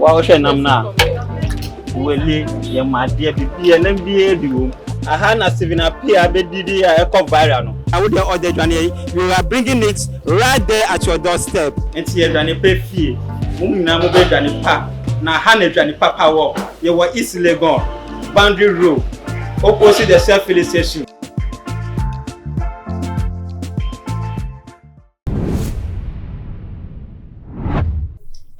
Wohwɛ nam no a, wele yɛ ma adeɛ bibia nam biara bi wom. Aha na Stephen Appiah bɛdidi a ɛkɔ viral no. Na wo deɛ ɔde adwaneɛ yi, you are bringing it right there at your door step. Nti yɛdwane pɛ fie, mo nyinaa mo bɛ dwane pa, na ha na adwane papa wɔ, yɛwɔ East Legon, Boundary Road, opposite the Shell Filling Station.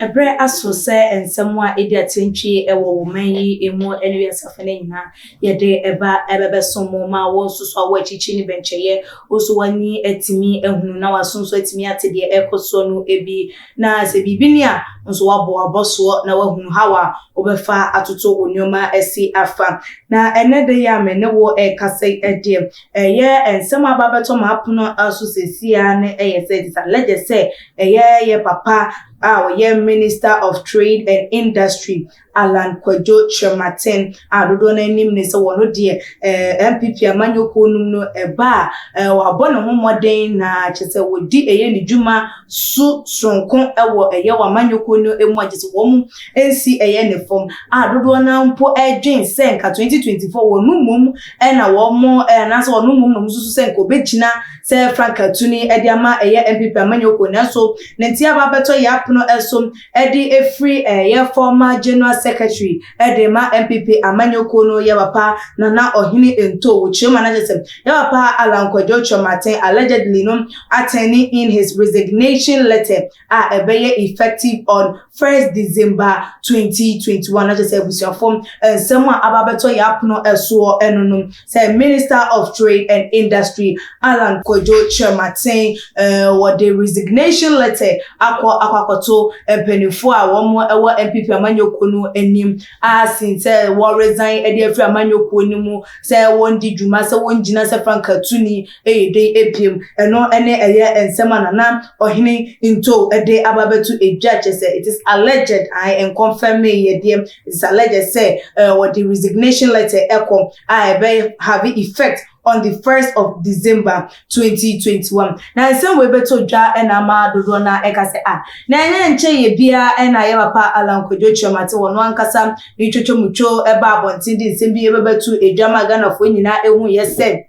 Ɛberɛ aso sɛ nsɛm a ɛdi atɛntwie wɔ wo man yi mu ne wiase afa no nyinaa yɛde ɛba ɛbɛbɛso mo ma wo nso so a woakyikyi ne bɛnkyɛyɛ wo nso w'ani atumi ahunu na w'aso nso atumi ate deɛ ɛrekɔ soɔ no bi na sɛ biribi ni a nso wabɔ abɔsoɔ na wahunu how a wobɛfa atoto wo nneɛma asi afa na ɛnɛ da yi a me ne wo ɛrekasa yi deɛ Ɛyɛ nsɛm a aba abɛtɔ m'apono so seesei ara no yɛ sɛ Edith Alege sɛ ɛyɛ yɛn papa a ɔyɛ Minister of Trade and Industry, Allan Kwadwo Kyerematen, a dodoɔ no ara nim no sɛ ɔno deɛ eh, NPP amanyɔkuo nom no ɛba a eh, wabɔ ne ho mmɔden na kyerɛ sɛ wɔdi ɛyɛ ne dwuma so soronko wɔ ɛyɛ wɔ amanyɔkuo no mu a kyerɛ sɛ wɔn nsi ɛyɛ ne fam a dodoɔ no ara mpo ɛdwen sɛ nka 2024 wɔn mmom ɛna wɔn ɛɛ nanso wɔn mmom na wɔn susu sɛ nka obegyina sɛ Frank Atuni ɛde ama ɛyɛ NPP amanyɔkuo nanso ne nti aba abɛtɔ yɛ apono ɛso ɛde efiri ɛyɛ former General Secretary ɛde ma NPP amanyɔkuo no yɛ papa Nana Ɔhene Ntoh wɔ Kyerɛma no akyerɛ sɛ yɛ papa Alan Kwadwo Kyerematen allegedly no atɛni in his resignation letter a ɛbɛyɛ effective on first December twenty twenty one na kyerɛ sɛ abusuafo nsɛm a aba abɛtɔ yɛn apono soɔ no no sɛ Minister of Trade and Industry Allan Kwadwo Kyerematen wɔde resignation letter akɔ akɔ akɔto mpaninfoɔ a wɔn wɔ NPP amanyɔkuo no anim a sin sɛ wɔ resign de afiri amanyɔkuo no mu sɛ wɔn di dwuma sɛ wɔn gyina sɛ franka tuni Eyi din abien no ne ɛyɛ nsɛm a Nana Ɔhene Ntoow de aba abɛto dwa, kyerɛ sɛ it is alleged, ae, ɛnkɔnfɛmee yɛ deɛ, it is alleged sɛ wɔde resignation letter kɔ a ɛbɛ have effect on the first of December, twenty twenty one. Na nsɛm wei bɛtɔ dwa na ama dodoɔ no ara ɛka sɛ ah, na ɛnyɛ nkyɛeɛ biara na yɛ papa Alan Kwadwo Kyerematen wɔno ankasa ne twotwomutwo baa abɔnten de nsɛm bi bɛbɛto dwa maa Ghanafoɔ nyinaa huiɛ sɛ,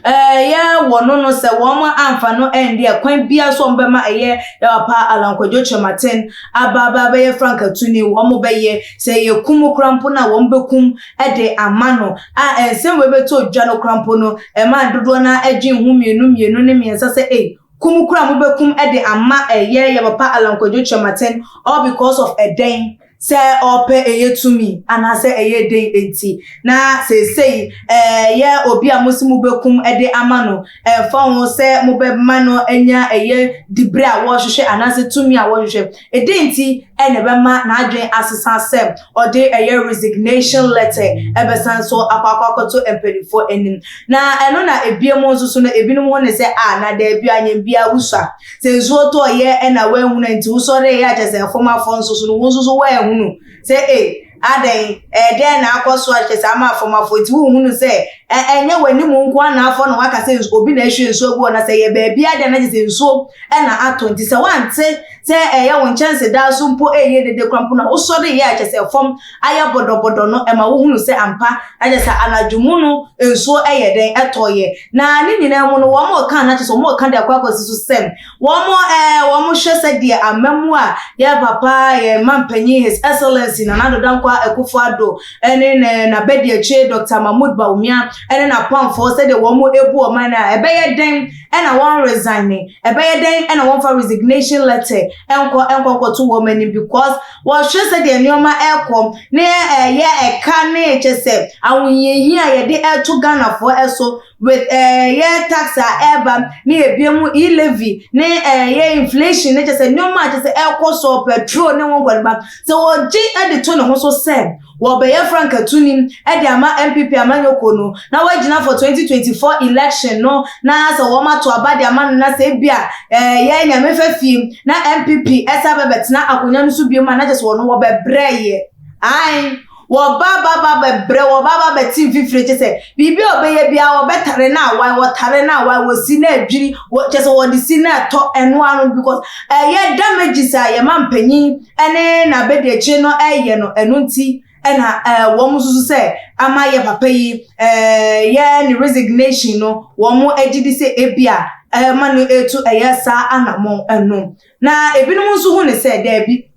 Ɛyɛ wɔn no sɛ wɔn amfa no anni ɛkwan biara so a wɔbɛma ɛyɛ Yaw Pa Alan Kwadwo Kyerematen aba aba abɛyɛ Frank Atuni. Wɔbɛyɛ sɛ ɛyɛ kum koraa mpo no a wɔbɛkum de ama no. A nsɛm wei bɛtɔɔ dwa no koraa mpo no, ɛmaa dodoɔ no ara dwen ho mmienu mmienu ne mmiɛnsa sɛ ei, kum koraa a mobɛkum de ama ɛyɛ Yaw Pa Alan Kwadwo Kyerematen all because of ɛdɛn? sɛ ɔpɛ ɛyɛ tumi anaasɛ ɛyɛ den nti, na seesei ɛyɛ obi a mose mobɛkum de ama no, ɛmfa ho sɛ mobɛma no anya ɛyɛ diberɛ a wɔhwehwɛ anaasɛ tumi a wɔhwehwɛ. Ɛdɛn nti na ɛbɛma n'adwene asesa sɛ ɔde ɛyɛ resignation letter bɛsan so akɔ akɔ akɔto mpaninfoɔ anim? Na ɛno na ɛbiem nso so no, ɛbinom ho ne sɛ, Ah, na daabi, anyɛ biaa, wosua. Sɛ nsuo tɔɔ yɛ ɛna woanhunu a nti wosɔre yɛ a kyɛ sɛ fam afɔ nso so no wo nso so woanhunu sɛ ei adɛn ɛɛ dɛn na akɔ so a kyɛ sɛ ama fam afɔ nti wonhunu sɛ ɛnyɛ w'anim nko a na afɔ na waka sɛ obi na ahwie nsuo agu hɔ na sɛ yɛ baabi adeɛ na kyɛ sɛ nsuo ɛna atɔ nti sɛ woante sɛ ɛyɛ wo nkyɛnse daa so mpo ɛyɛ dede kora mpo na wosɔre yɛ a kyɛ sɛ fam ayɛ bɔdɔbɔdɔ no ma wohunu sɛ ampa na kyerɛ sɛ anadwo mu no nsuo yɛ dɛn ɛtɔeɛ na ne nyinaa mu no wɔn reka na kyerɛ sɛ wɔn reka de akɔ akɔsi so sɛm wɔn ɛɛ wɔn hwɛ sɛ deɛ ama mu a yɛ papa yɛ mma mpanyin his excellency nana ado dankwa akufo ado ɛne ne n'abɛdiakyire dr mahmood baumia ɛne n'apamfoɔ sɛdeɛ wɔn ebu ɔman no a ɛbɛyɛ dɛn ɛna wɔn resign ɛbɛyɛ dɛn ɛna wɔn fa resignation letter ɛnkɔ ɛnkɔ nkɔto wɔn anim because Wɔhwɛ sɛdeɛ nneɛma rekɔ ne ɛyɛ ɛka ne kyɛ sɛ ahohiahia a yɛde reto Ghanafoɔ so with ɛyɛ tax a ɛreba ne ɛbia mu e-levy ne ɛyɛ inflation ne kyɛ sɛ nneɛma a kyɛ sɛ ɛrekɔ soɔ petrol ne ho nkɔniba sɛ ɔgye de to ne ho so sɛ Wɔbɛyɛ Frank Atunim de ama NPP amanyɔkuo no na wagyina for 2024 election no na sɛ wɔn ato aba de ama no na sɛ ebia eh yɛ Nyame fa fie na NPP ɛsan bɛbɛtena akonwa no so biom a na kyɛ sɛ wɔn wɔbɛbrɛ yɛ ae wɔba aba ba bɛbrɛ wɔba aba bɛte mfifire kyɛ sɛ biribi a wɔbɛyɛ biara wɔbɛtare no awae wɔtare no awae wɔsi no adwiri wɔ kyɛ sɛ wɔde si no ɛtɔ ɛno ano because ɛyɛ damages a yɛma mpanyin ne n'abadiakyire no reyɛ no, ɛno nti na wɔn susu sɛ ama yɛ papa yi yɛ ne resignation no, wɔn agye di sɛ ebi a ɛma no etu ɛyɛ saa anamɔn ɛno. Na ebinom nso hu ne sɛ daabi,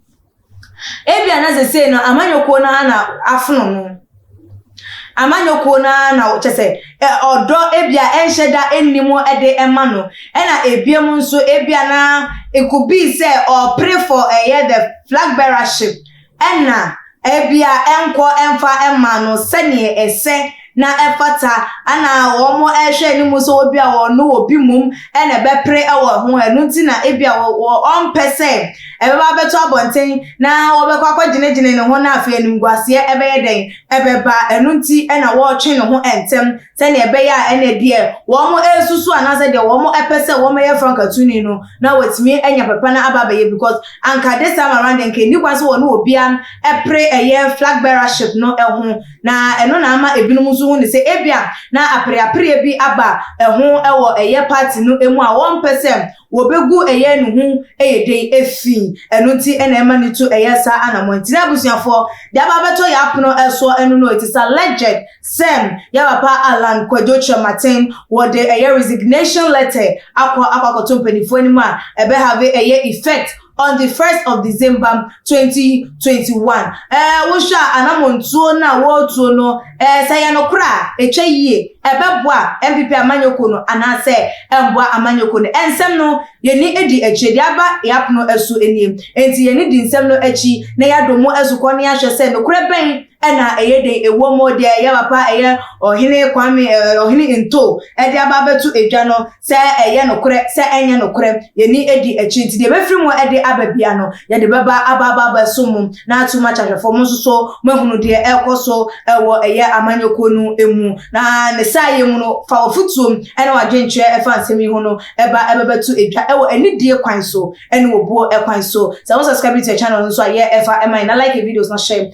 ebi a na sesei no amanyɔkuo no ara na afono no. Amanyɔkuo no ara na kyerɛ sɛ ɛ ɔdɔ ebi a ɛnhyɛ da nni mu de ma no. Ɛna ebiom nso ebi a na it could be sɛ ɔɔpere for ɛyɛ the flag bearership ɛna ebi a ɛnkɔ ɛnfa ɛma no sɛdeɛ ɛsɛ na ɛfata ɛna wɔn ɛrehwɛ anim sɛ ebi a wɔn ne obi mmom ɛna ɛbɛpere ɛwɔ ho ɛno nti na ebi a wɔ wɔ ɔmpɛ sɛ Ɛbɛba abɛto abɔnten na wɔbɛkɔ akɔgyinagyina ne ho na afei animguaseɛ bɛyɛ dɛn? Ɛbɛba. Ɛno nti na wɔretwe ne ho ntɛm sɛdeɛ ɛbɛyɛ a ɛnna deɛ wɔresusu anaasɛ deɛ wɔpɛ sɛ wɔyɛ Frank Atuni no na wɔatumi anya papa no aba abɛyɛ because anka this time around deɛ anka ɛnni kwan sɛ wɔne obiara pere ɛyɛ flag bearership no ho na ɛno na ama ɛbinom nso hu no sɛ ebia na apereapereɛ bi aba ho wɔ ɛyɛ party no mu a wɔmpɛ sɛ Wɔbɛgu ɛyɛ ne ho yɛ den afi. Ɛno nti na ɛma ne tu yɛ saa anammɔn nti. Na abusuafoɔ, deɛ aba abɛtɔ yɛn apono soɔ ɛno no, it is alleged sɛ yɛn papa Allan Kwadwo Kyerematen, wɔde ɛyɛ resignation letter akɔ akɔ akɔto mpanimfoɔ anim a ɛbɛhave ɛyɛ effect on the first of December twenty twenty one ɛɛ wohwɛ a anamontuo no a wɔretuo no ɛɛ sɛ yɛ nokorɛ a ɛtwa yie ɛbɛboa NPP amanyɔkuo no anaasɛ ɛmboa amanyɔkuo no ɛnsɛm no yɛni edi akyire deɛ aba yɛapono ɛso nie nti yɛni di nsɛm no akyi na yɛadɔ mu asukɔ na yɛahwɛ sɛ nokorɛ bɛn ɛna ɛyɛ den ɛwɔ mu deɛ ɛyɛ papa ɛyɛ ɔhene kwame ɛɛ ɔhene nto ɛde aba abɛto edwa no sɛ ɛyɛ nokorɛ sɛ ɛnyɛ nokorɛ yɛni ɛdi akyi nti deɛ ɛbɛfiri mu ɛde aba bia no yɛde bɛba aba aba aba so mu na ato mu akyɛ ahwɛfoɔ mo nso so mo ahunu deɛ ɛrekɔ so ɛwɔ ɛyɛ amanyɔkuo no ɛmu na ne saa yɛ mu no fa wɔfotuo mu ɛne wadwenkyerɛ ɛfa nsɛm yi ho no ɛba ɛbɛbɛto edwa ɛwɔ ɛnidie kwan so ɛne wɔbuo ɛkwan so sɛ wo subscribe to your channel nso a yɛ ɛfa ɛma yɛ na like videos na hyɛ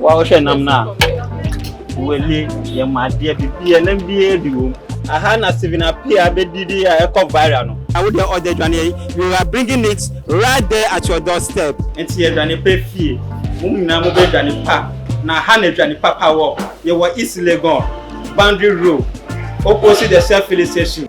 Wohwɛ nam no a, wele yɛ ma adeɛ bibia nam biara bi wom. Aha na Stephen Appiah bɛdidi a ɛkɔ viral no. Na wo deɛ ɔde adwaneɛ yi, you are bringing it right there at your door step. Nti adwane pɛ fie, mo nyinaa mo bɛ dwane pa, na ha na adwane papa wɔ, yɛ wɔ East Legon, Boundary Road, opposite the Shell Filling Station.